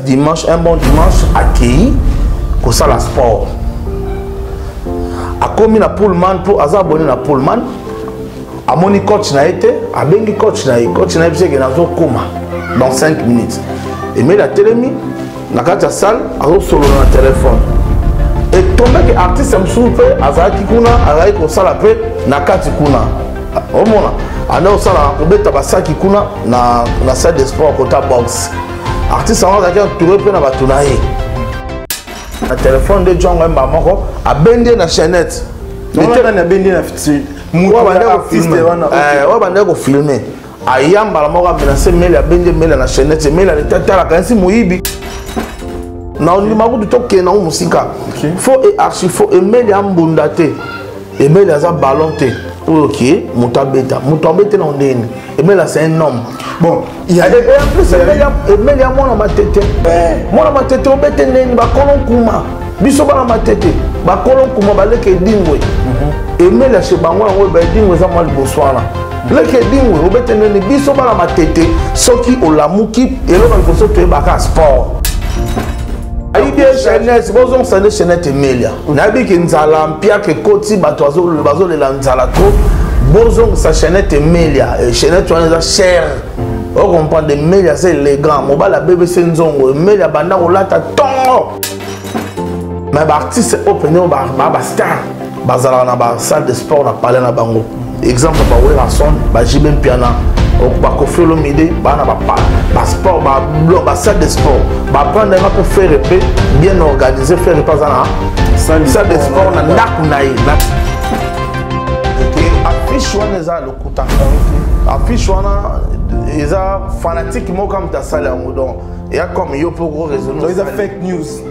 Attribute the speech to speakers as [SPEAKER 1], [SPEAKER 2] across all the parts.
[SPEAKER 1] dimanche un bon dimanche akei kosala sport akomi na pullman mpo aza abone na pullman amoni coach na ye te abengi coach na ye coach na ye biseke nazokoma dans 5 minutes emeli atelemi na kati ya salle azosolola na telefone etombeki artiste mosusu mpe azalaki kuna azalaki kosala mpe na kati kuna omona anda osala obeta basaki kuna na, na salle de sport kota box artiste yango azalaki entouré mpe na bato na ye na telefone nde jongo ye mbaa moko abendi ye na chainette
[SPEAKER 2] oyo
[SPEAKER 1] bandaki kofilme aya mbala moko amenase mele abendi mele na chainette mele aletatalaka nsi moyibi na ondima kutu tokende yango mosika fo e archi fo emeli ambunda te ebele aza ballon te oyo ke moto abeta moto abetela ngo ndenge nini ebele c'est un homme bon ebele ya mwana matete eh, mwana matete obete ndenge nini bakolo nkuma biso bana matete bakolo nkuma baleka edingo mhm. emele ya se bango yango eba edingo eza mwa liboso wana leke edingo obete ndenge nini biso bana matete soki olamuki eloko liboso toyebaka sport ayibi chaînete bozongisa nde chaînete emelia nayebi ke nzala mpiaka ekoti bato bazolela nzala trop bozongisa chainete emelia eh, chainete wana eza cher ocomprendre emelia eza élégant mobali abebese nzongo emelia banda kolata tongo me baartiste oyo mpenza bastar bazalaka na basale de sport na palais na bango exemple ba werrason ba jibe mpiana bakofi olomide bana basport basale de sport baprendre nga mpo fere mpe bien organise fere mpe aza na sale de sport na ndako na ye affiche wana eza lokuta affiche wana eza fanatique moko kamta asala yango donc eya comme yo mpo ko raisonne eza fake news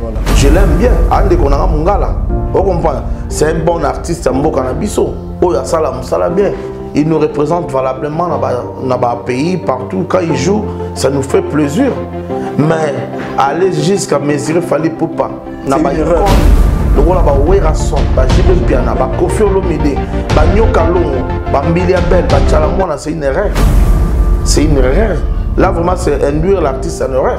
[SPEAKER 1] Voilà. Je l'aime bien. Ande konanga mungala. Vous comprenez C'est un bon artiste mboka na biso. Oyo asala musala bien. Il nous représente valablement dans ba, dans ba pays partout quand il joue, ça nous fait plaisir. Mais aller jusqu'à mesurer fallait pour pas. Na ba lokola bawerason bajibe mpiana bakofi olomide banyoka longo bambili ya bel bacala mwana c'est une erreur c'est une erreur là vraiment c'est induire l'artiste en erreur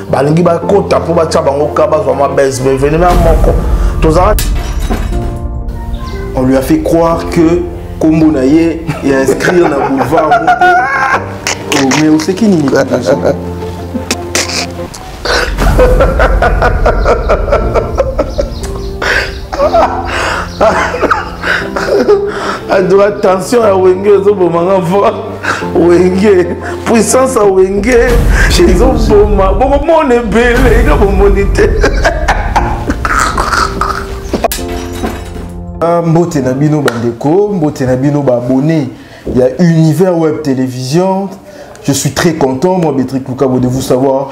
[SPEAKER 1] balingi bakota mpo batya bango ka bazwa mwa bese mais evenema moko tozala
[SPEAKER 2] on lui a fait croire que kombo na ye ya inscrire na boulevard moko oh, mais oseki nini
[SPEAKER 1] adora tension ya wenge ezobomanga fort wenge puissance ya wenge ezoboma bokomona ebele ino bomoni te
[SPEAKER 2] ah, mbote na bino bandeko mbote na bino baabonne ya univers web télévision je suis très content moi bétric lukabo de vous savoir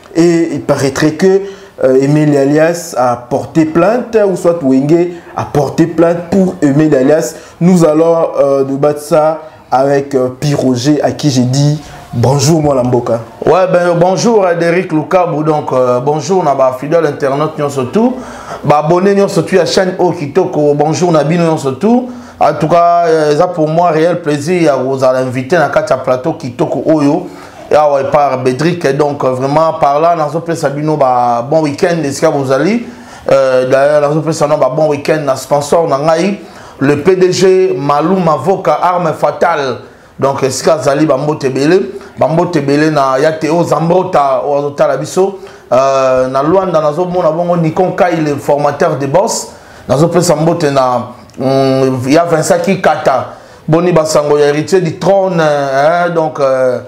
[SPEAKER 2] et il paraîtrait que euh, Emile Alias a porté plainte ou soit Wenge a porté plainte pour Emile Alias. Nous allons euh, nous battre ça avec euh, Piroger à qui j'ai dit bonjour moi Lamboka. Ouais ben bonjour
[SPEAKER 1] à Derek Lukabou donc euh, bonjour na ba fidèle internaute nyon surtout ba abonné nyon surtout à chaîne O Kitoko bonjour na bino nyon surtout en tout cas euh, ça pour moi réel plaisir ya vous à l'inviter na katia plateau Kitoko Oyo awa epa bedrik donc euh, vraiment par là nazopesa bino ba bon week-end esika bozali euh, d'ailleurs nazopesa no ba bon week-end na sponsor na ngai le pdg malou mavoka arme fatale donc esika azali bambote ebele bambote ebele na ya teo zambrota oyo azotala biso euh, na lwanda nazomona bongo nikon kai le formateur de boss nazopesa mbote na mm, ya vincent kikata boni basango ya héritier du trône eh, donc euh,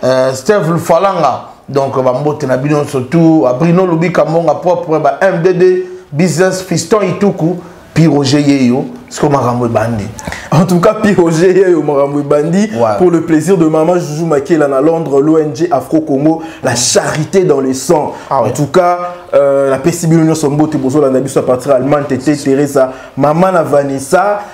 [SPEAKER 1] euh, steve lufalanga donc bambote na bino nyonso tout abrino lubika mbonga propre ba mdd business fiston ituku piroger yeyo siko makambo ebandi en tout cas
[SPEAKER 2] piroger yeyo makambo ebandi pour le plaisir de maman joujou makela na londres l'ong afro congo la charité dans le sang ah ouais. en tout cas euh, napesi bino nyonso mbote bozolanda biso à partir allemagne tete teresa mama na vanessa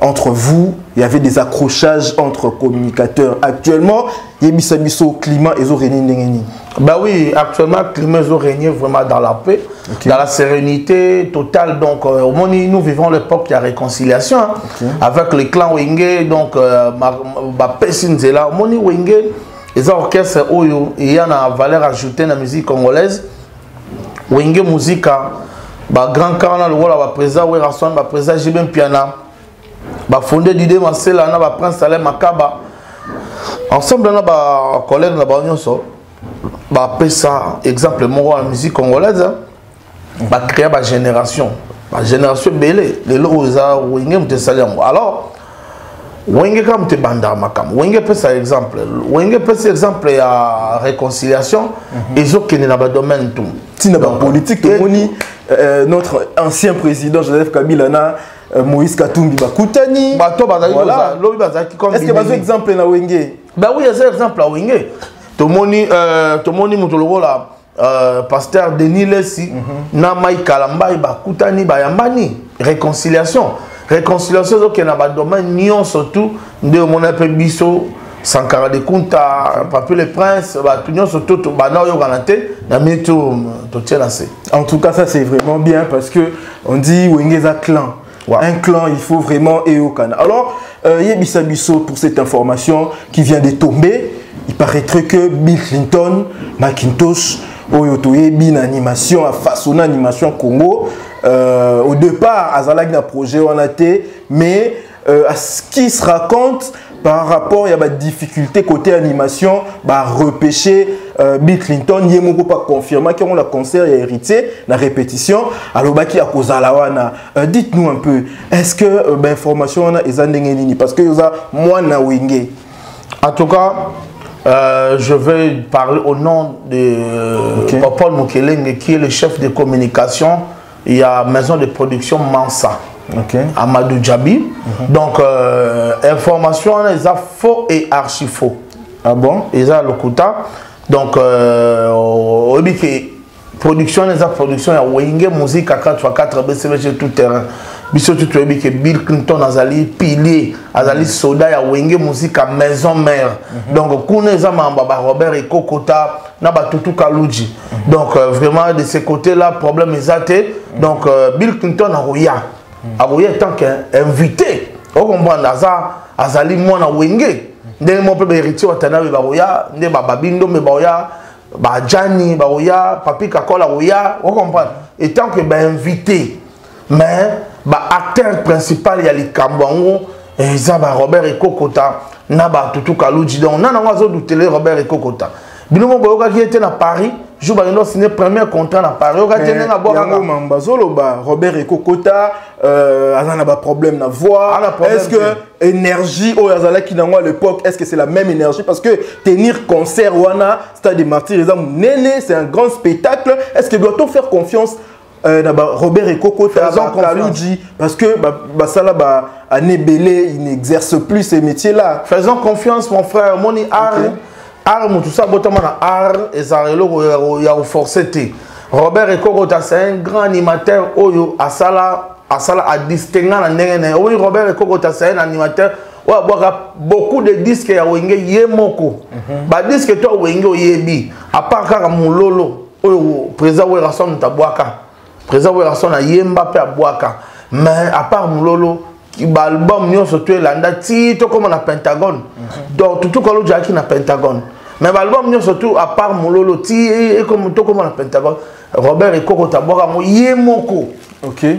[SPEAKER 2] entre vous il y avait des accrochages entre communicateurs actuellement yebisa biso climat ezo régner ndenge nini bah oui
[SPEAKER 1] actuellement climat ezo régner vraiment dans la paix okay. dans la sérénité totale donc euh, au moins nous vivons l'époque il y a réconciliation hein, okay. avec le clan Wenge donc euh, ba pesi nzela moni Wenge eza orchestre oyo eya na valeur ajoutée na musique congolaise wenge muzika ba grand camp na lokola ba président werrason ba président jb mpiana ba fondé dide masela na ba prince alain makaba ensemble na ba collègue na bango nyonso bapesa exemple moko ya musique congolaise hein. bacréa bagénération bagénération ebele lelo oyo eza wenge moto esali yango alors wenge kaka moto ebandaka makambo wenge epesa exemple wenge epesa exemple ya réconciliation mhm. ezokende na badomaine tout ntina bapolitique
[SPEAKER 2] tomoni euh, notre ancien président joseph kabila na euh, moïse katumbi bakutani bato bazalkilobi
[SPEAKER 1] bazalaki est ce que
[SPEAKER 2] bazo exemple na wenge ba oui eza exemple
[SPEAKER 1] ya wenge tomoni euh, tomoni moto lokola Euh, pasteur denis lesi mm -hmm. na mai kalambai bakutani bayambani réconciliation réconciliation ezokende na badomaine nyonso tout nde omona mpe biso sankara de kunta papi le prince bato nyonso to tobanda oyokana te na mini totie na se en tout cas ça c'est
[SPEAKER 2] vraiment bien parce que on dit wenge eza clan Wow. Un clan, il faut vraiment Eokana. Alors, euh, Yebisa Bisso pour cette information qui vient de tomber. Il paraîtrait que Bill Clinton, Macintosh, oyo toyebi na animation afaçonna animation congo euh, au départ azalaki na projet wana te mais euh, à ce qui se raconte par rapport ya ba difficulté côté animation ba repêcher euh, Bill Clinton ye moko pa confirma que on la concert ya héritier na répétition alobaki ya kozala wana euh, dites-nous un peu est-ce que euh, ba information wana eza ndenge nini parce que yoza mwana wenge en tout
[SPEAKER 1] cas Euh, je vais parler au nom de euh, okay. Popol Mukelenge, qui est le chef de communication ya maison de production mansa okay. amadou djabi mm -hmm. donc euh, information wana eza faux et archi faux ah
[SPEAKER 2] bon eza lokuta
[SPEAKER 1] donc euh, oyebi euh, ke production wana eza production ya wenge musique à 4 x 4 bcbc tout terrain biso tu toyebi ke bill clinton azali pilier azali mhm. soda ya wenge musique à maison mère mm -hmm. donc kuna eza mambo ba robert ekokota na batutu kaludji donc euh, vraiment de ce côté là problème eza te donc euh, bill clinton akoya akoya tant qu'invité okomprendre aza azali mwana wenge ndenge moko mpe baheritier watanabe bakoya nde bababindombe bakoya bajani bakoya papi kakol akoya okomprendre etant que bainvité mais ba acteur principal ya likambo yango eza ba robert ekokota na batutu kaluji donc nana yango azodutele robert ekokota bino moko boyokaki ye te na paris jour bakende osine premier contrat na paris oyoka te ndenge abwakaka mamba azoloba
[SPEAKER 2] robert ekokota euh, aza na baproblème na voix est ce que énergie oyo azalaki nango à l'époque est ce que c'est la même énergie parce que tenir concert wana stade de martyr eza monene c'est un grand spectacle est ce que doit-on faire confiance Euh, na ba Robert Ekokota ba Kaludji parce que ba basala ba année belé il n'exerce plus ces métiers là. Faisons confiance mon
[SPEAKER 1] frère moni art okay. art mutu sa botama na art ezala eloko ya ko forcer te. Robert Ekokota c'est un grand animateur oyo asala asala a distinga na ndenge na oui Robert Ekokota c'est un animateur oyo abwaka beaucoup de disques ya wenge ye moko. Mm -hmm. Ba disques to wenge oyebi à part kaka mulolo oyo président werrason moto abwaka président werrason ayemba mpe abwaka mais à part mololo baalbum nyonso to elanda ti tokóma na pentagone mhm. donc tutukalo jalaki na pentagone mais baalbum nyonso tu à part mololo ti tokóma na pentagone robert ekoko tabwaka yango ye moko okay.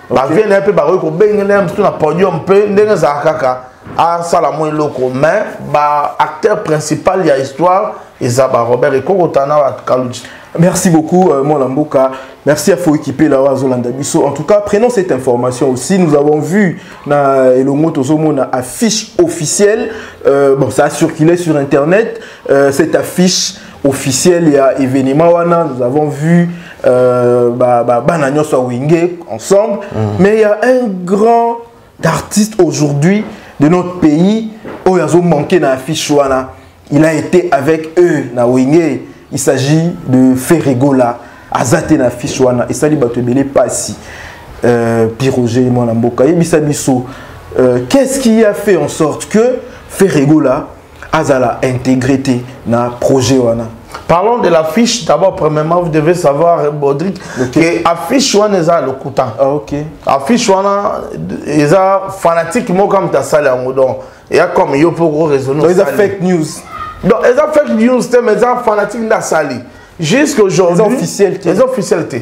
[SPEAKER 1] bavie na ye mpe bakoki kobengela ye mosusu na podium mpe ndenge ezalaka kaka asala mwa eloko mais baacteur principal ya histoire eza barobert ekokota na bakaluji merci beaucoup
[SPEAKER 2] euh, mwana mboka merci à foekipe la oyo azolanda biso en tout cas prenons cette information aussi nous avons vu na elongo tozomona affiche officielle euh, bon ça a circulé sur internet euh, cette affiche officiel ya événement wana nous avons vu euh, ba, ba, bana nyonso ya wenge ensemble mm. mais il y a un grand artiste aujourd'hui de notre pays oyo azo manquer na affiche wana il a été avec eux na wenge il s'agit de ferregola aza te na affiche wana esali bato ebele mpasi euh, piroge mwana mboka yebisa biso euh, qu'est ce qui a fait en sorte que ferregola azala intégré te na projet wana Parlons de l'affiche.
[SPEAKER 1] D'abord, premièrement, vous devez savoir, Bodrick, okay. que affiche wana eza lokuta. Ah, ok.
[SPEAKER 2] Affiche wana
[SPEAKER 1] eza fanatique moko comme ta salle yango donc. Eya comme yo mpo koraisonne. Donc eza fake news.
[SPEAKER 2] Donc eza
[SPEAKER 1] fake news te mais eza fanatique nde asali. Jusqu'aujourd'hui. Eza officiel te. Eza officiel te.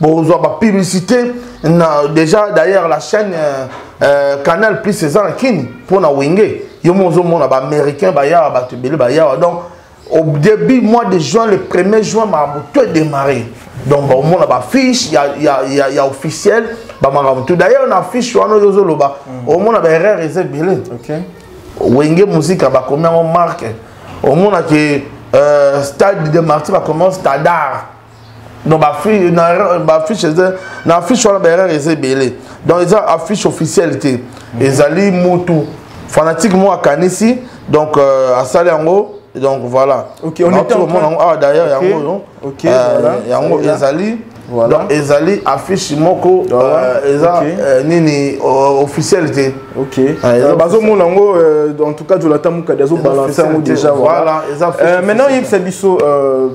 [SPEAKER 1] bozwa bapublicité na déjà d'ailleurs la chaîne euh, euh, canal plus eza na kini mpo na wenge yo mo ozomona baaméricain bayawa bato ebele bayawa donc au début mois de juin le 1er juin makambo to edémarre donc baomona bafiche ya, ya, ya, ya officiel bamakambo tout d'ailleurs na fiche wana oyo ozoloba mm. omona baerreur eza ebele okay.
[SPEAKER 2] wenge
[SPEAKER 1] muzika bakomi yango marke omonaki euh, stade de marti bakomi yango stadar donc baaffiche na affiche wana baerreur eza ebele donc eza affiche officielle te mhm. ezali mutu fanatique moko akanisi donc euh, asali yango donc voilà okay, on est omona
[SPEAKER 2] yango
[SPEAKER 1] awa
[SPEAKER 2] derrière yango
[SPEAKER 1] oyo
[SPEAKER 2] yango ezali donc ezali
[SPEAKER 1] affiche moko euh, eza euh, nini euh, officiel te
[SPEAKER 2] bazomona yango en tout cas jonathan mukadi azobalanse yango déjà voilà maintenant yebisa biso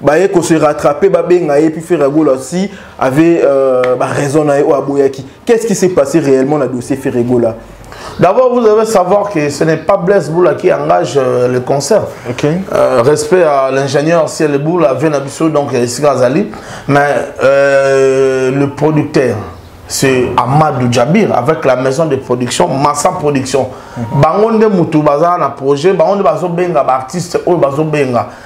[SPEAKER 2] baye ko se rattraper babenga ye puis Ferre Gola aussi avait euh, ba raison na ye o aboyaki qu'est-ce qui s'est passé réellement na dossier Ferre Gola D'abord,
[SPEAKER 1] vous devez savoir que ce n'est pas Blaise Boula qui engage euh, le concert. Okay. Euh,
[SPEAKER 2] respect à
[SPEAKER 1] l'ingénieur Ciel Boula, Venabisso, donc euh, ici Azali. Mais euh, le producteur, c'est Amadou Djabir avec la maison de production Massa Production. Mm -hmm. Bango nde mutu baza na projet, bango nde bazo benga ba artiste oyo bazo benga.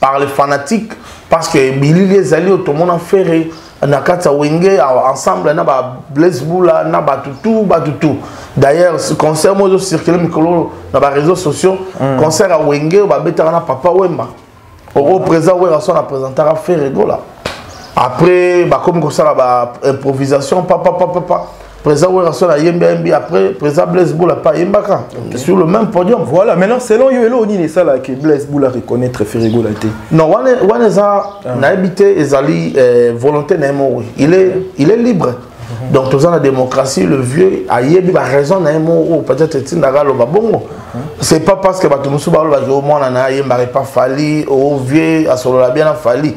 [SPEAKER 1] par les fanatiques parce que bilili ezali oyo tomona ferre na kati ya wenge ensemble na ba blaise bula na bato tout bato tout d'ailleurs concert moko ezocircule mikolo na baréseau sociaux mm. concert ya wenge oyo babetaka na papa wemba oko présent wera so na présentaka ferre gola après bakomi kosala ba improvisation papapapapa Président Werrason a yembi yembi après Président Blaise Boula pas yembaka okay. sur le même podium. Voilà, maintenant selon yo
[SPEAKER 2] elo ni ça là que Blaise Boula reconnaître Ferre Gola te. Non, wana
[SPEAKER 1] wana za ah. na habité ezali euh, volonté na mo. Il est il est libre. Mhm. Donc tous la démocratie, le vieux a yebi ba raison na mo peut-être tindaka lo ba bongo. Mhm. C'est pas parce que ba tumusu ba lo ba zo mona na yemba pas fali au vieux a solo la bien a fali.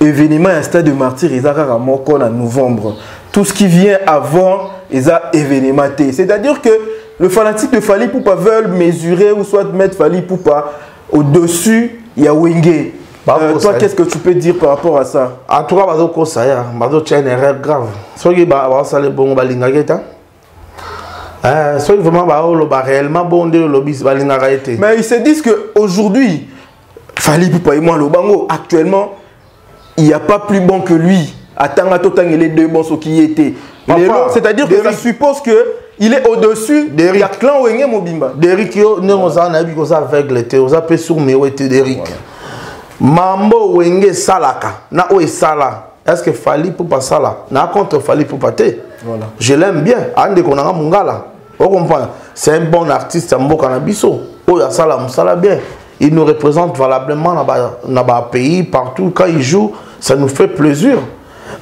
[SPEAKER 2] Evenement ya stade de martyr eza kaka moko na novembre. Tout ce qui vient avant eza événement te. C'est-à-dire que le fanatique de Fally Poupa veulent mesurer ou soit mettre Fally Poupa au-dessus ya Wenge. Bah, euh, toi, qu'est-ce que tu peux dire par rapport à ça En tout cas, Bazo Kosaya,
[SPEAKER 1] Bazo Tchenere, grave. Soki Bazo Salé Bongo Balingageta. Euh, soki vraiment baoloba réellement bo nde olobi balingaka ye te mais ils se
[SPEAKER 2] disent que aujourd'hui fali pupa ye mwa aloba yango actuellement il n'y a pas plus bon que lui atanga totangele deux bon soki ye te lelo c'est-à-dire que ça suppose que il est au-dessus Derrick. ya clan wenge mobimba Derrick yo ndenge
[SPEAKER 1] ozala nayebi ke oza aveugle te oza mpe sourd mewe te Derrick voilà. mambo wenge esalaka na oyo esala est-ce que fali pupa sala na contre fali pupa te voilà. je l'aime
[SPEAKER 2] bien
[SPEAKER 1] andeko nanga mungala okomprendre c'est un bon artiste ya mboka na biso oyo asala mosala bien il nous représente valablement na ba, na ba pays partout quand il joue ça nous fait plaisir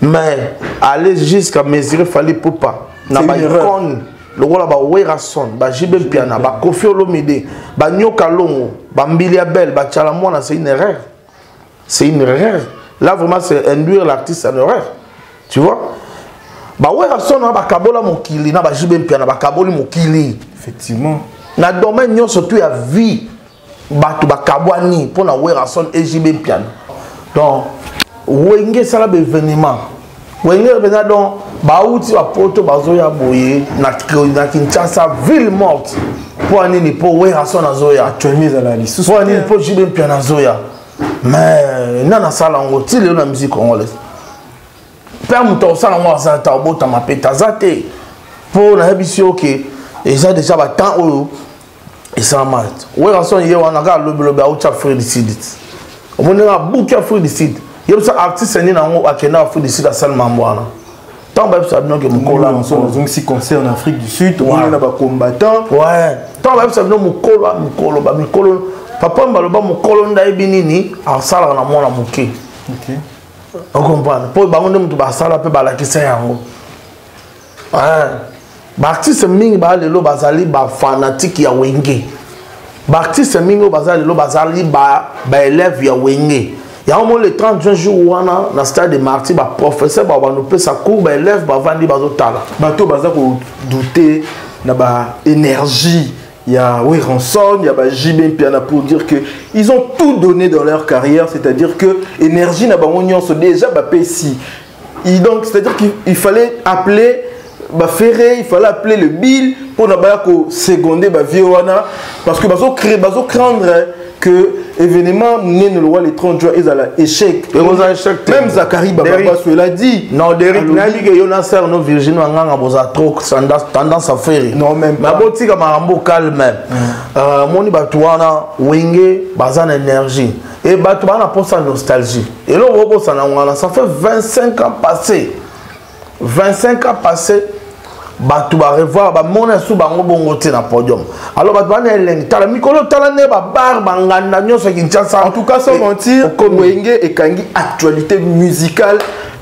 [SPEAKER 1] mais aller jusqu'à mesurer fali pupa na baicone lokola bawerason bajibe mpiana bakofi olomide banyoka longo bambili ya bele bacala mwana c'est une erreur c'est une erreur là vraiment c'est induire l'artiste en erreur tu vois ba werrason na bakabola mokili na bajibe mpiana
[SPEAKER 2] bakaboli mokili effectivement na domaine
[SPEAKER 1] nyonso tu ya vie bato bakabwani mpo na werrason ejb mpiana donc wenge esala baevenement wenge mpenza donc bauti bapoto bazoya boye na kinshasa ville morte mpo anini mpo werason azoya mpo
[SPEAKER 2] anini mpo jibe mpiana
[SPEAKER 1] azoya mais nani asala yango ti lelo na musique congolaise mpe moto akosala yango aza ta obotama mpe taza te mpo nayebisi yo ke eza deja batemps oyo esalama werrason ye wana kaka lobilobi autya afrique du sud omoni nga buki afrique du sud yebisa artiste nini yango akenda afrique du sud asali mambo wana ntango bayebisa bino ke mokolo azongisi concert
[SPEAKER 2] en afrique du sud omoni na bacombattant ntango
[SPEAKER 1] bayebisa bino mokolo ya mikolo bamikolo papa mbaloba mokolo nde ayebi nini asalaka na mwana moke
[SPEAKER 2] okomprendre
[SPEAKER 1] mpo bango nde moto basala mpe balakisa yango eh, baartiste mingi baa lelo bazali bafanatike ya wenge baartiste mingi oyo baza lelo bazali baelève ya wenge yango moni le 30 juin jour wana na stade de marti baprofesseur bao bandopesa cour baelève bavandi bazotala bato baza
[SPEAKER 2] kodoute na baénergie ya Werenson, il y a bah, JB Piana pour dire que ils ont tout donné dans leur carrière, c'est-à-dire que énergie n'a pas se déjà bah, si Et donc, c'est-à-dire qu'il fallait appeler ba ferre il fallait appeler le bill pour na baya ko seconder ba vieux wana parce que bazo créer bazo craindre que événement munene le roi le 30 juin ezala échec ekozala échec même Zachary Bababasso il a dit non Derrick nayebi que
[SPEAKER 1] yo na sœur no Virginie Wanganga boza trop tendance à faire non même pas botika
[SPEAKER 2] makambo
[SPEAKER 1] calme euh moni bato wana wenge baza na énergie Et bato bana posa nostalgie. Et là, on ça ngana, ça fait 25 ans passés. 25 ans passés. bato barevoir bamona su bango bongo te na podium alors bato bana elengi tala mikolo tala nde babar banganda nyonso ya kinshasa en tout cas sans
[SPEAKER 2] mentir wenge ekangi actualité musicale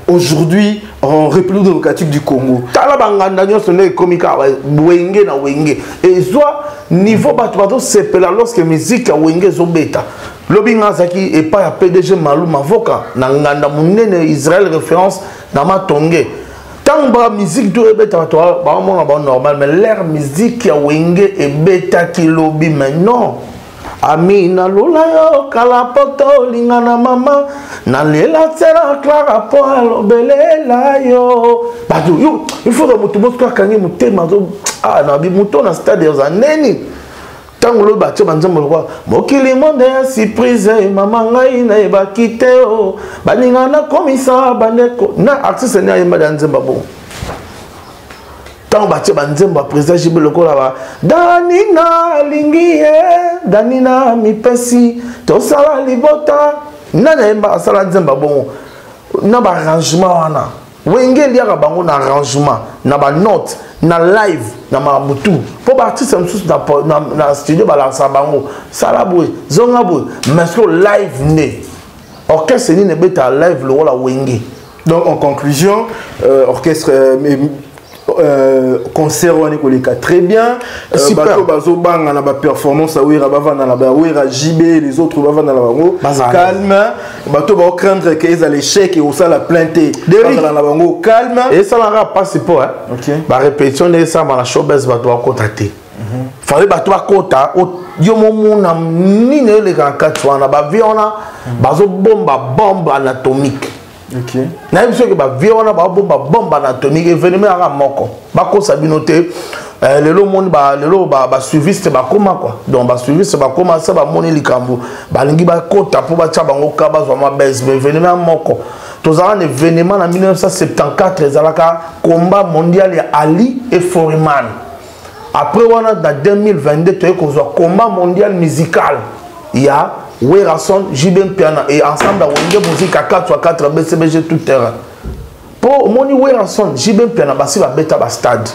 [SPEAKER 2] aujourd'hui en république démocratique du congo tala banganda nyonso
[SPEAKER 1] nde ekomi kaka wenge na wenge ezwa niveau bato bazosepela lorsque miziki ya wenge ezobeta lobi nga azalaki epai ya pdg malu mavoka na nganda monene israel référence na matonge ntango ba miziki to ebeta bato baomona bango normal mais lere miziki ya wenge ebetaki lobi mais non ami nalula yo kala poto olinga na mama nalela tsela clara mpo alobelela yo bato yo ifoka moto mosuku akangi motema ah, na moto na stade oza neni ntango lobi batye banzambe lokola mokili monde ya surprise mama ngai nayebaki te o oh. baninga nakomisa bandeko na artiste ni ayembali ya nzemba bongo ntango batie banzembo ya président jibe lokola ba danina alingi ye danina mipesi tosala libota nani ayemba asala nzemba bongo na baarrangement wana wenge eliaka bango na arrangement na banote na live na makambo tu mpo baartiste mosusu na, na, na studio balakisa bango sala boye zonga boye mais siko live nde orchestre nini ebetaka live lokola wenge donc en conclusion
[SPEAKER 2] euh, orchestre euh, Euh, concert wana ekoleka très bien euh, bato bazobanga na baperformance ya wera bavanda na bawera jb les autres bavanda na bango calme bato baocraindre ke ezala échec ekosala plein te bazala na bango calme esalaka mpasi
[SPEAKER 1] mpo barépétition
[SPEAKER 2] nde
[SPEAKER 1] esalama na showbase bato bakota te fale bato bakota yo momona nini eleka na kati wana bavie wana bazobomba bombe anatomique
[SPEAKER 2] nayebi soki
[SPEAKER 1] bavie wana babomba bombe anatomique evenema yaka moko bakosa bino te eh, lelo omoni lelo basuiviste bakoma kua donc basuiviste bakoma se bamoni likambo balingi bakota mpo batya bango ka bazwa mabese ba evenema ya moko tozalaka na evenema na 1974 ezalaka combat mondial ya ali et foreman après wana na 2022 toye kozwa combat mondial musical ya werason jb mpiana et ensemble awenge mozika 4 fois 4 bcbg tout terrain mpo omoni werason jb mpiana basi babeta bastade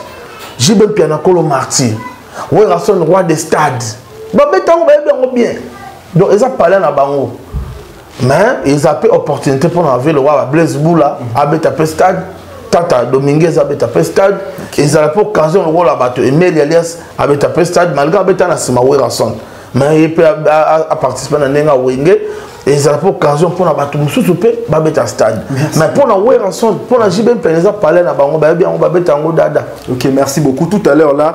[SPEAKER 1] jb mpiana kolo martyr werason roi de stade babeta yango bayebi yango bien donc eza palais na bango mais eza mpe opportunité mpo na velo waba blaise bula abeta mpe stade tata dominguez abeta mpe stade ezala mpe occasion lokola bato emeli alias abeta mpe stade malgré abeta na nsima werason mais ye mpe aparticipe na ndenge awenge ezala mpe occasion mpo na bato mosusu mpe babeta stade mais mpo na werason mpo na jb mpene eza palais na bango bayebi yango babeta yango dada ok merci beaucoup tout à l'heure là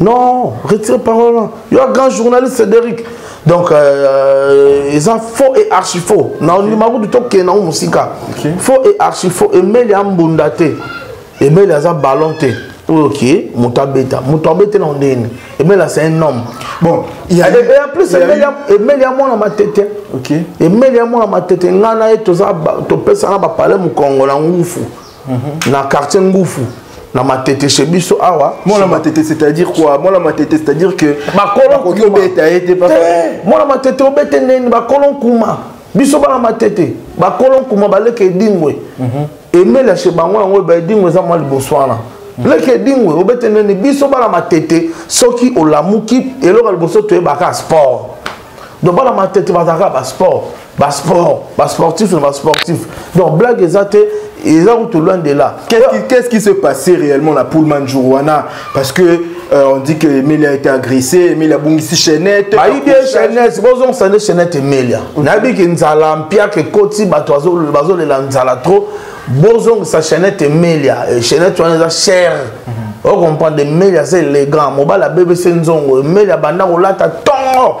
[SPEAKER 1] non retire parole yo grand journaliste cédéric donc euh, eza faux et archi faux na ondima kutu tokende nango mosika faux et archi faux emeli ambunda te emeli aza ballon te oyo ke moto abeta moto abete na ndenge nini emeli asa un homme bon en plus emeli ya mwana matete emeli ya mwana matete ngai na ye topesana bapale mokongo na ngufu Mhm. na quartier ngufu na matete chez biso awa mwana matete c'est-à-dire
[SPEAKER 2] quoi mwana matete c'est-à-dire que bakoki obeta
[SPEAKER 1] ye te eh, mwana matete obete neni bakolo nkuma biso bana matete bakolo nkuma baleka edingwe mhm. emela chez bango yango eba edingwe eza mwa liboso wana mhm. leke edingwe obete neni biso bana matete soki olamuki eloko ya liboso toyebaka sport donc bana matete bazalaka basport ba sport ba sportif na ba sportif donc blague eza te eza kutu loin de là qu'est-ce qui se passait
[SPEAKER 2] réellement na Pullman jour wana parce que euh, on dit que Emelia a été agressée Emelia abungisi chaînette bayibi ye chaînette
[SPEAKER 1] bozongisa nde chaînette Emelia mm. nayebi ke nzala mpiaka ekoti bato bazolela nzala trop bozongisa chaînette Emelia chaînette wana eza cher mm-hmm. ocomprendre Emelia aza élégant mobali abebese nzongo Emelia abanda kolata tongo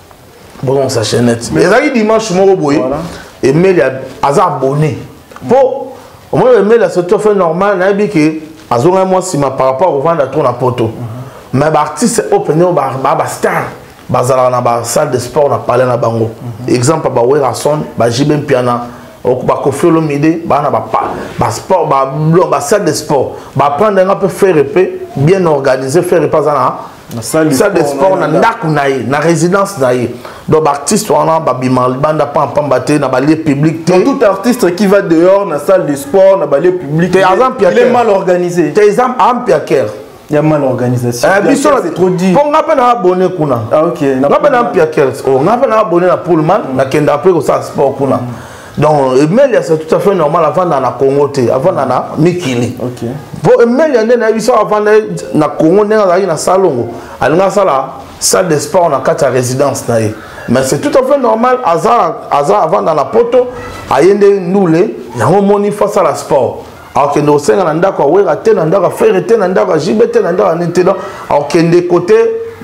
[SPEAKER 1] bozongisa chainette ezalaki dimanche moko boye emeli aza abonné mpo omoni emeli asoto fait normal nayebi ke azongaki mwa nsima par rapport kovanda trop na poto mhm. mais baartiste oyo mpenza oyo baa bastar bazalaka na basalle de sport na palais na bango mhm. exemple ya bawerason bajibe mpiana bakofi olomide baa na basport basalle de sport baprendre yanga mpe ferre mpe bien organisé ferre mpe aza na salle de sport na ndako na ye na résidence na ye donc baartiste wana babima libanda pampamba te na balie public te tout artiste
[SPEAKER 2] qui va dehors na salle de sport na balie public te aza mpiaker mal organisé te eza ampiaker
[SPEAKER 1] ya mal
[SPEAKER 2] organisation eh, biso c'est trop dit
[SPEAKER 1] po nga pe na abonné kuna ah, okay. nga pe na
[SPEAKER 2] mpiaker
[SPEAKER 1] oh, nga pe na abonné na pullman mm. nakenda pe kosala sport kuna mm. donc emelia c'est tout à fait normal avanda na congo te avanda na mikili mpo
[SPEAKER 2] emelia nde
[SPEAKER 1] nayebi so avanda na congo ndenge azalaki na salongo alingi asala salle de sport na kati ya résidence na ye mais c'est tout à fait normal aza aza avanda na poto aye nde ndule yango omoni fo asala sport akokende kosenga na ndako ya wera te na ndako ya fere te na ndako ya jibe te na ndako ya nini te donc akokende kote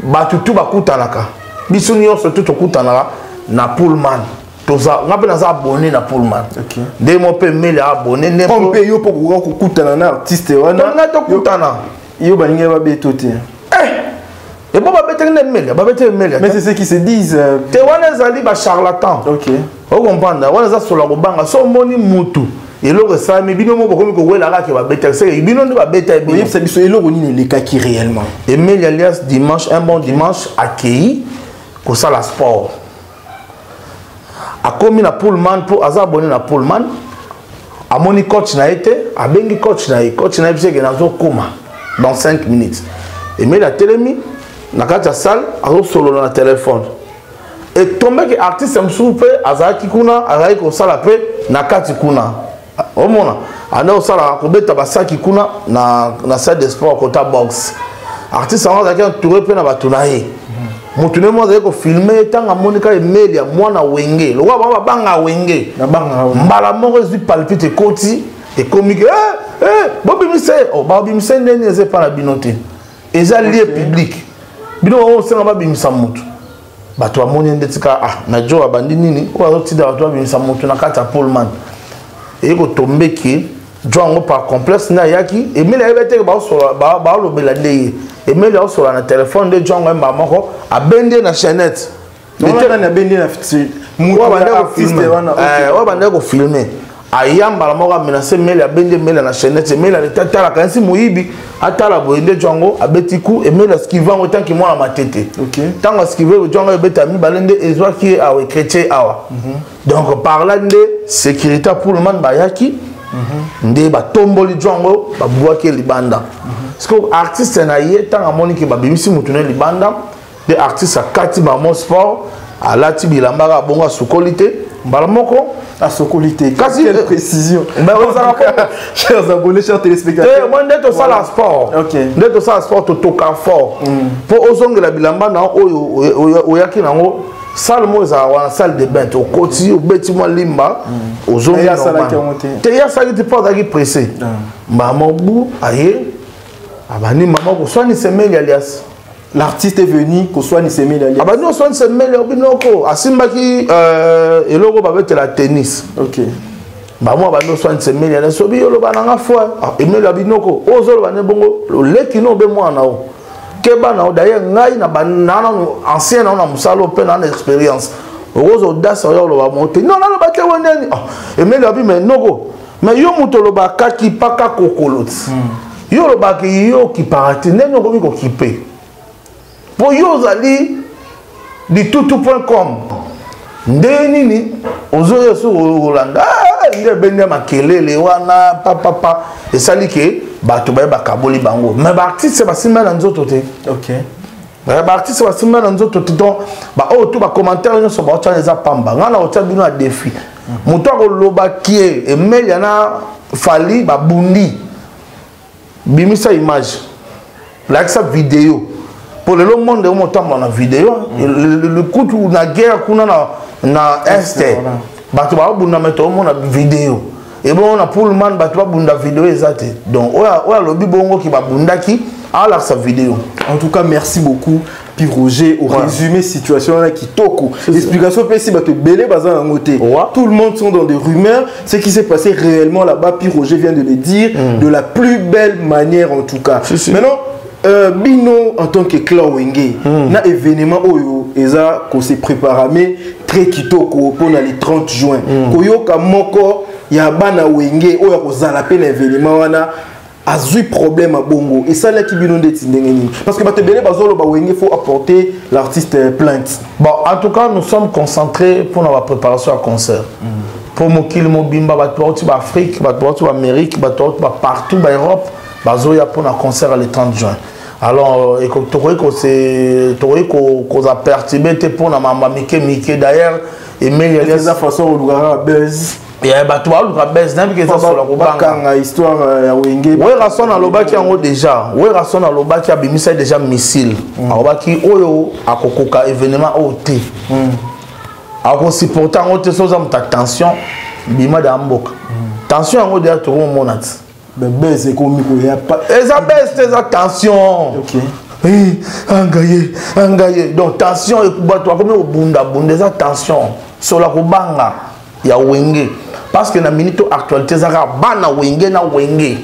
[SPEAKER 1] bato tu bakutanaka biso nyonso tu tokutanaka na pullman toza nga mpe naza abonné na pullman nde mo mpe mele abonné nde mpe yo mpo kokoka
[SPEAKER 2] kokutana na artiste wana nga tokutana
[SPEAKER 1] yo balingi
[SPEAKER 2] babeto te eh!
[SPEAKER 1] ebo babetaki nde mele babetaki mele mais c'est ce qui se disent
[SPEAKER 2] euh, te wana ezali
[SPEAKER 1] bacharlatan
[SPEAKER 2] okomprendre
[SPEAKER 1] wana eza solo ya kobanga so omoni mutu eloko esalami bino moko bokomi kowela kaka ke babetaki seke bino nde babeta oyebisa biso eloko nini
[SPEAKER 2] elekaki réellement emeli alias
[SPEAKER 1] dimanche un bon dimanche akei kosala sport akomi na pullman mpo aza abone na pullman amoni coach na ye te abengi coach na ye coach na ye biseke nazokoma dans 5 minutes emeli atelemi na kati ya salle azosolola na telefone etombeki artiste mosusu mpe azalaki kuna azalaki kosala mpe na kati kuna omona anda osalaka kobeta basaki kuna na, na salle de sport kota boxe artiste yango azalaki entouré mpe na bato na ye motu nde mo azali kofilme ye ntango amoni kaka emeli ya mwana wenge lokola bango babanga wenge mbala
[SPEAKER 2] moko ezwi
[SPEAKER 1] palpite ekoti ekomi ke eh, eh, bobimisa ye oh, babimisa ye ndeni eza epai na bino te eza lie publike bino bango osenga babimisa motu bato bamoni ndeti kaka ah, na jo abandi nini oyo azotinda bato babimisa moto na kati ya polman eye kotombe ke jo yango par complexe nde ayaki emeli ayebi teke baolobela nde ye emeli aosola na telefone nde jo yango ayemba moko abendi ye na chainette oyo abandaki kofilme aya mbala moko amenase mele abende mele na chainete mele aleta atalaka yansi moyibi atala boye nde jo yango abeti ku emele askive yango etanki mwana matete ntango askive
[SPEAKER 2] jo
[SPEAKER 1] yango ebeta mibale nde ezwaki ye awa ekretie awa mhm. donc par là nde sécurité ya pullman bayaki mhm. nde batomboli jo yango babwaki ye libanda mhm. sikoyo artiste na ye ntango amoni ke babimisi motu na ye libanda nde artiste akati bango sport alati bilamba kaka bongo asukoli te mbala moko asokoli te
[SPEAKER 2] kasi quelle précision
[SPEAKER 1] chers abonnés
[SPEAKER 2] chers téléspectateurs moi nde tosala
[SPEAKER 1] sport nde tosala sport totoka fort mpo mm. ozongela bilamba na oyo oyaki nango salle moko ezala wana salle de bain te okoti obeti mwa limba mm. ozongi
[SPEAKER 2] te ye asalaki te mpo
[SPEAKER 1] azalaki pressé ah. mama bu aye abandi mama koswanisa emeli alias l'artiste est
[SPEAKER 2] venu koswanisa emeli alias abandi koswanisa emeli obi
[SPEAKER 1] noko asimbaki euh, eloko babetela tennis ok
[SPEAKER 2] bamwa abandi
[SPEAKER 1] koswanisa emeli alias obi oloba na nga foi ah, emeli abi noko oyo ozoloba ne bongo oleki no obe mwana o keba na o daye ngai na bananano ancien nao na mosala oyo mpe naa na expérience okozodasa oyo oloba mo te non nalobaki yango nini ah, emeli abi me noko mais yo moto olobaka kipaka kokoloti hmm. yo olobaka yo okipaka te ndenge okomi kokipe mpo yo ozali litutu point com ndenge nini ozoya soki olanda ah, nde ebende ya makelele wana papapa esali ke bato baye bakaboli bango me baartiste basimba na nzoto te okay.
[SPEAKER 2] Eh, baartiste
[SPEAKER 1] basimba na nzoto te donc baoyo oh, tu bacommentaire nyonso baotya eza pamba ngai na otya bino na défi moto akoloba kie emelia na fali babundi bimisa image lakisa video mpo lelo monde omo otambola na video likutu na guerre kuna na este bato baobunda me toomona video ebongo na pullman bato babunda video eza te donc oyo alobi bongo ki babundaki alakisa video en tout cas merci
[SPEAKER 2] beaucoup puis roger orésumé situation wana kitoko explication mpesi bato ebele baza yango te tout le monde sont dans des rumeurs ce qui s'est passé réellement là-bas puis roger vient de le dire mm. de la plus belle manière en tout cas si, si. maintenant Euh, bino en tant que clan wenge mm. na événement oyo eza ko se préparame très kitoko mpo na le 30 juin mm. koyoka moko ya bana wenge oyo akozala mpe na événement wana azwi problème ya bongo esalaki bino ndeti ndenge nini parce que bato ebele bazoloba wenge faut apporter l'artiste euh, plainte bon en tout cas
[SPEAKER 1] nous sommes concentrés mpo na bapréparation ya concert mpo mm. mokili mobimba bato bauti baafrique bato bauti baamérique bato bauti bapartout baeurope ba bazoya mpo na concert ya le 30 juin alors euh, tokoki tokoki koza perturbe te mpo na mamba mike mike d'ailleurs emelieza façon olukaka
[SPEAKER 2] buzz bato baluka
[SPEAKER 1] bes nayebi eza solo kobangakanga histoire
[SPEAKER 2] euh, ya wenge werason alobaki
[SPEAKER 1] yango déjà werason alobaki abimisaki déjà missile mm. alobaki oyo akokoka événement oyo te mm. akosupporte yango te soza moto ya tension bima da mboka mm. tension yango deja tokomomona ti bebes
[SPEAKER 2] ekomi koya eza bes te eza
[SPEAKER 1] tension okay. hey,
[SPEAKER 2] eh,
[SPEAKER 1] angaye angaye donc tension bato akomi kobundabunda eza tension sola kobanga ya wenge parce que na minute actualité eza kaka bana wenge na wenge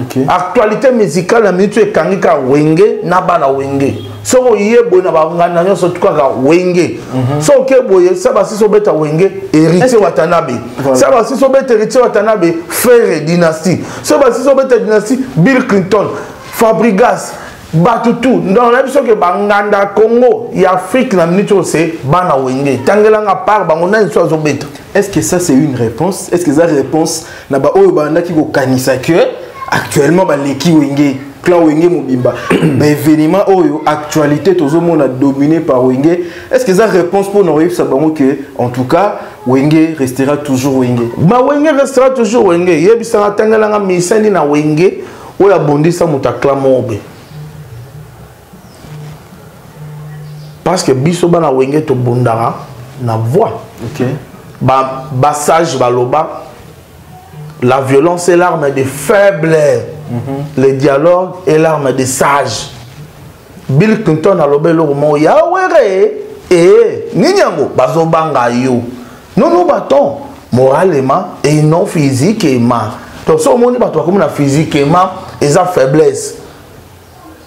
[SPEAKER 1] okay.
[SPEAKER 2] actualité
[SPEAKER 1] musicale na minute ekangi kaka wenge na bana wenge soki oye boye na banganda nyonso tukaka wenge mhm. soki oke boye sa basisi obeta wenge héritier watanabe sa basisi obeta héritier watanabe frere dynastie soki basisi obeta dynastie bill clinton fabrigas bato tu donc nayebi soki banganda congo ya afrique na minute oyo se bana wenge tangelanga par bango nani so azobeta est ce que ça c'est une
[SPEAKER 2] réponse est ce que eza réponse na baoyo bandaki kokanisa que actuellement baleki wenge clan wenge mobimba baévénement oyo actualité tozomona dominé par wenge est ce que eza réponse mpo na koyebisa bango que en tout cas wenge restera toujours wenge ba wenge restera
[SPEAKER 1] toujours wenge yebisaka atangelanga misani na wenge oyo abondisa moto aklama obe parce que biso bana wenge tobundaka na voix okay.
[SPEAKER 2] ba, ba
[SPEAKER 1] sage baloba la violence est l'arme des faibles mm -hmm. le dialogue est l'arme des sages bill clinton aloba eloko moko ya were ee nini yango bazobanga yo nono baton moralement et non physiquement donc so omoni bato bakomi na physiquement eza faiblesse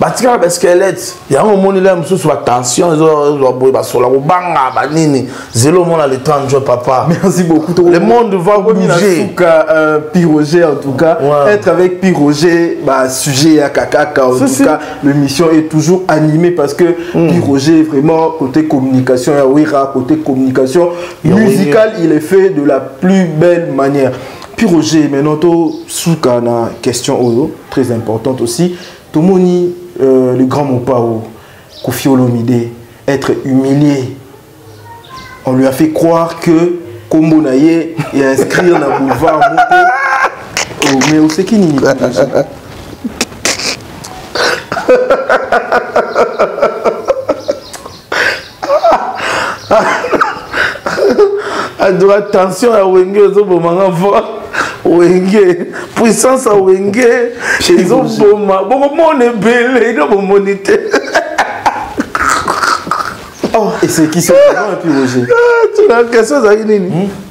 [SPEAKER 1] batikaka baskelete yango omoni lea mosusu batension ezozwa boye basola kobanga banini zelo omona le temps njo papa merci beaucoup le
[SPEAKER 2] monde va
[SPEAKER 1] bouger suka euh, piroger
[SPEAKER 2] en tout cas ouais. être avec piroger ba sujet ya kakaka en si, tout cas si. l'émission est toujours animée parce que mm. piroger vraiment côté communication ya wera côté communication musicale il est fait de la plus belle manière Puis Roger, maintenant to suka na question oyo très importante aussi. Tomoni euh, le grand Mopao Koffi Olomide être humilié. On lui a fait croire que Kombo na ye et inscrire na boulevard Moto. Oh, mais oseki nini
[SPEAKER 1] adoka ah, tension ya wenge ezoboma nga fort wenge puissance ya wenge ezoboma bokomona ebele ino bomoni te
[SPEAKER 2] oh, esekisi epi roger ah, question
[SPEAKER 1] ezalaki nini hmm?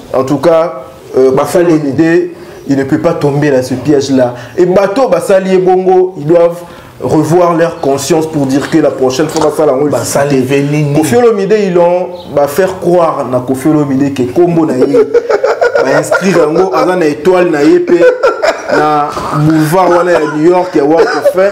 [SPEAKER 2] en tout cas euh, basali idée il ne peut pas tomber dans ce piège là et bateau basali ebongo ils doivent revoir leur conscience pour dire que la prochaine fois basala yango kofi olomide ils ont bah, faire croire na kofi olomide ke kombo na ye bainscrire yango aza na étoile na ye mpe na boulevard wana ya new york ya walk of fame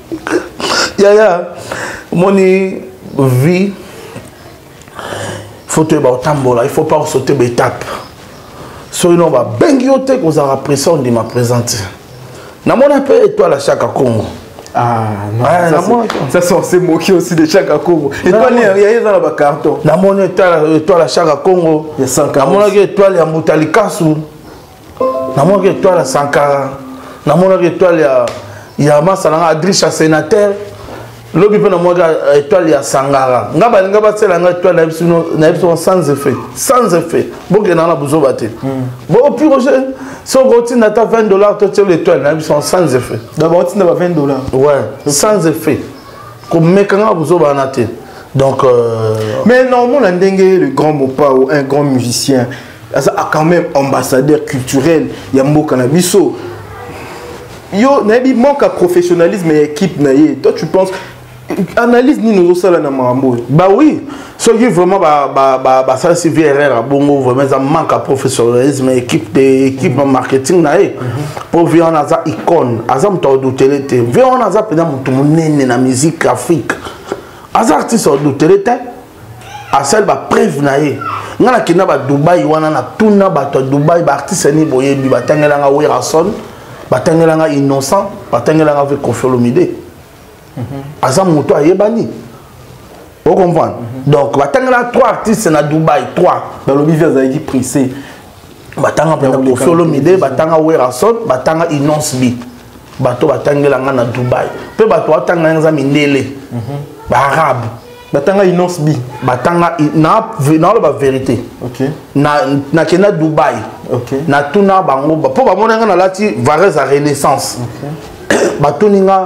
[SPEAKER 1] yaya omoni vie faut toyeba kotambola il faut pas kosaute baetape soki no babengi yo te kozala presa ondima présente namona mpe etoile ya shaka congo
[SPEAKER 2] Ah, non, ah, ça, moi, ça c'est on s'est moqué aussi de Chaka Congo. Étoile, il y a eu dans le carton. Dans mon étoile,
[SPEAKER 1] étoile à Chaka Congo. Il y a 100 Dans mon
[SPEAKER 2] étoile, il y a
[SPEAKER 1] Moutalikasu. namonaki etoile ya sankara namonaki etoile ya ya masa na nga adrisha sénateur lobi mpe namonaki euh, etoile ya sangara nga balinga basela nga etoile na biso sans effet sans effet bokendaka na buzoba te hmm. bopiroge soki otinda ata 20 dollar totiela etoile na biso sans effet dabord otinda ba 20
[SPEAKER 2] dollar ouais sans
[SPEAKER 1] effet komekanga buzoba wana te donc euh... mais
[SPEAKER 2] naomona ndenge le grand mopao un grand musicien aza quand même ambassadeur culturel ya mboka na biso yo nayebi manque ya professionnalisme ya équipe na ye toi tu penses analyse nini ozosala na makambo oyo ba oui
[SPEAKER 1] soki vraiment basalisi ba, ba, vrr ya bongo vraiment eza manque ya professionnalisme ya équipe te équipe ya marketing na ye mpo mhm. vie wana aza icone aza moto aodutele te vie wana aza mpenza moto monene na musique afrique aza artiste aodutele te asali ba preuve na ye nga nakenda ba dubai wana na tuna bato ya dubai ba artiste ni boyebi batangela nga werason batangela nga innocent batangela nga ve kofiolomide mhm. aza moto ayebani o comprendre mhm. donc batangela trois artistes na dubai trois balobi vi azalaki
[SPEAKER 2] pressé
[SPEAKER 1] batanga mpenza kofi olomide batanga
[SPEAKER 2] werrason
[SPEAKER 1] batanga inonce b bato batangela ngai na dubai mpe bato batanga ngai eza mindele mhm. baarabe batanga inonce
[SPEAKER 2] b batanga
[SPEAKER 1] naoloba verité nakenda dubai natuna bango mpo bamona ngai nalati varese ya renaissance batuni ngai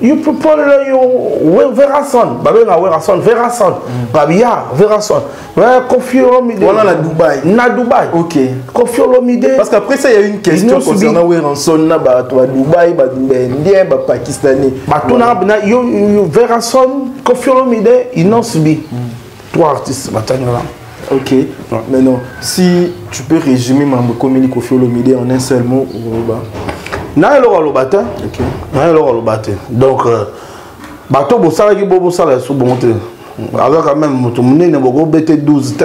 [SPEAKER 1] You people know you Verason. Babe na Verason, Verason. Mm. Babia, Verason. Ouais, Kofi Olomide. Voilà la Dubaï. Na
[SPEAKER 2] Dubaï. OK. Kofi
[SPEAKER 1] Olomide. Parce qu'après ça il y a une
[SPEAKER 2] question concernant Verason na ba to Dubaï, ba Indien, ba Pakistanais. Ba tuna na
[SPEAKER 1] yo Verason, Kofi Olomide, ils n'ont subi. Mm. Trois artistes batani wana. Ok. Ouais.
[SPEAKER 2] Maintenant, si tu peux résumer Mambo Komeli Kofi Olomide en un seul mot, Oroba.
[SPEAKER 1] Naye Lora Lobate. Ok. Naye Lora Lobate. Donc, euh, bato bosalaki bo bosala ya subu mote. Azaka même moto munene boko bete 12 te.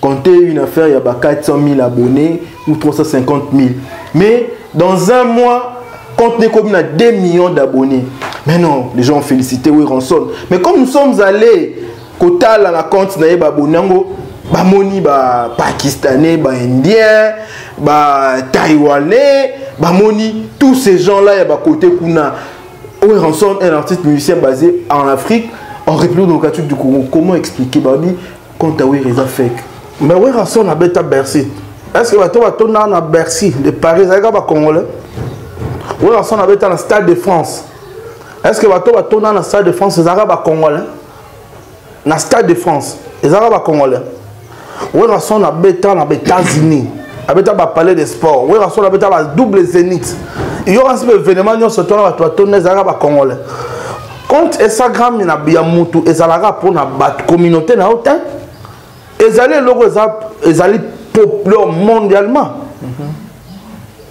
[SPEAKER 2] compter une affaire ya ba 400 000 abonnés ou 350 000 mais dans un mois compte n'est comme 2 millions d'abonnés mais non les gens ont félicité oui ranson mais comme nous sommes allés kotala na compte na ye baabonne yango bamoni bapakistanais baindien bataïwanais bamoni tous ces gens là ya bakote kuna oyo ranson un artiste musicien basé en afrique en république démocratique du congo comment expliquer babi compte à Wera eza fake mais Wera son
[SPEAKER 1] abeta Bercy est-ce que bato batonda na Bercy de Paris ezali kaka ba congolais Wera son abeta na Stade de France est-ce que bato batonda na Stade de France ezalaka ba congolais na Stade de France ezalaka ba congolais Wera son abeta na États-Unis abeta ba palais de sport Wera son abeta ba double zénith il y aura un événement nyonso tona bato batonda ezalaka ba congolais compte instagram na ya mutu ezalaka pona bato communauté na yo te ezali eloko ezali populaire mondialement mm -hmm.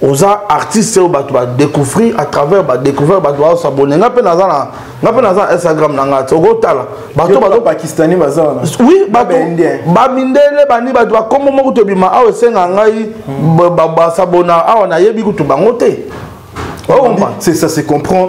[SPEAKER 1] oza artiste oyo bato badécouvrir à travers badécouvrir bato baosabone nga mpe naza na nga mpe naza na instagram na ngai te okotala bato bapakistani baza
[SPEAKER 2] wana oui bato
[SPEAKER 1] bamindele bani bato bakombo moko tobima awa esenga ngai basabona awa nayebi kutu bango te
[SPEAKER 2] c'est ça se comprend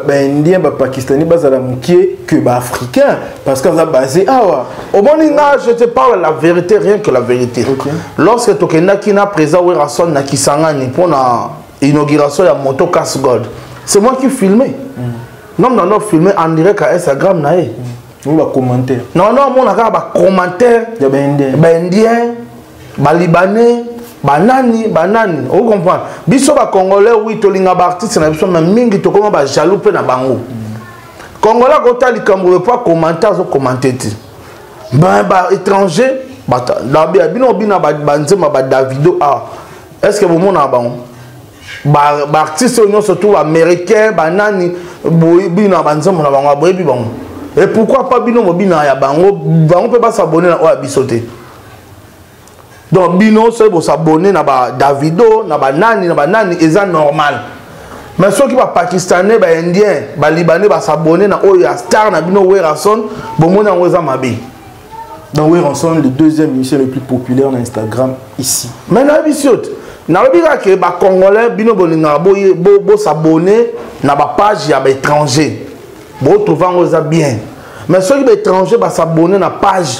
[SPEAKER 2] baindien ba bapakistani bazala moke que baafricain parce qu'aza basé awa ah omoni nga je
[SPEAKER 1] te parle la vérité rien que la vérité okay. lorsque tokendaki na président werrason na kisangani mpo na inauguration ya moto cas gold c'est moi qui filmé mm. nom nano filmé en direct à instagram na ye mm.
[SPEAKER 2] non non amona kaka
[SPEAKER 1] bacommentaire ya
[SPEAKER 2] baindien
[SPEAKER 1] ba libanais banani banani okoki comprendre biso bacongolais wi tolinga baartiste na biso me mingi tokoma bajaloux mpe na bango congolais akota likambo oyo mpo akomante azokomante te baétranger dabia bino obina banzemba badavido a est ce que bomonaka bango baartiste oyo nyonso tu baaméricain banani bina banzembo na bango boyebi bango e pourquoi pas bino mobina ya bango bango mpe basabone na oyo ya biso te donc bino soki bosabone na ba davido na banani na banani eza normal mais soki bapakistanais baindien balibanais basabone na oyo ya star na bino werrason bomoni yango eza mabe donc
[SPEAKER 2] werrason le deuxième musicien le plus populaire na instagram ici mais nayebi si yo te
[SPEAKER 1] nalobi kaka ke bacongolais bino bolingaka bosabone na bapage ya baétranger botrouve yango eza bien mais soki baétranger basabone na page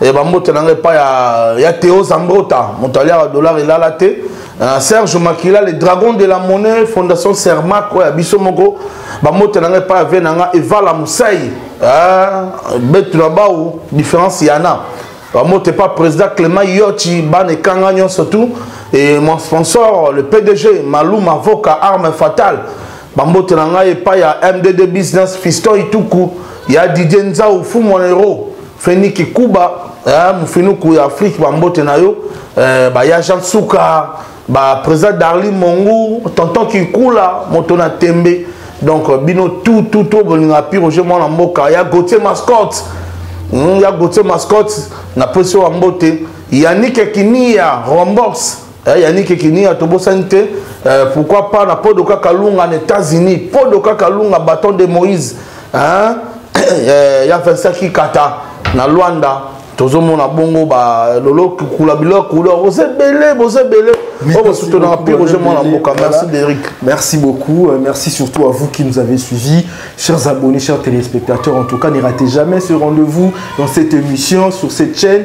[SPEAKER 1] Eh, bambote na ngai epai ya teo zambota moto aliaka dollar elala te eh, serge makila le dragon de la monnaie fondation sermac oyo ya biso moko bambote na ngai epai ya ve na ngai evala mosai eh, betu na bao différence yana bambote epai président clément yochi bana ekanga nyonso tout et mon sponsor le pdg malou mavoka arme fatale bambote na ngai epai ya mdd business fiston ituku ya didie nzau fumonero Feni Kikuba, eh, Mufinuku ya Afrique, Bambote na yo, eh, ba Yajan Suka, ba Président Darly Mongu, Tonton Kikula, Motona Tembe, donc euh, bino tout, tout, tout, bolinga pi Roger Mwana Mboka, ya Gauthier Mascotte, hmm, ya Gauthier Mascotte, na Pesio Bambote, Yannick Kimiya, Rombox, Eh, yanike kiniya tobosani te eh, pourquoi pas na podoka kalunga na états-unis podoka kalunga bâton de moïse hein? eh, ya vincent kikata na luanda tozomona bongo balolokula biloko oza ebele boza ebele oyo bosutonaka mpe roger mwana mboka merci deric merci
[SPEAKER 2] beaucoup euh, merci surtout à vous qui nous avez suivis chers abonnés chers téléspectateurs en tout cas ne ratez jamais ce rendez-vous dans cette émission sur cette chaîne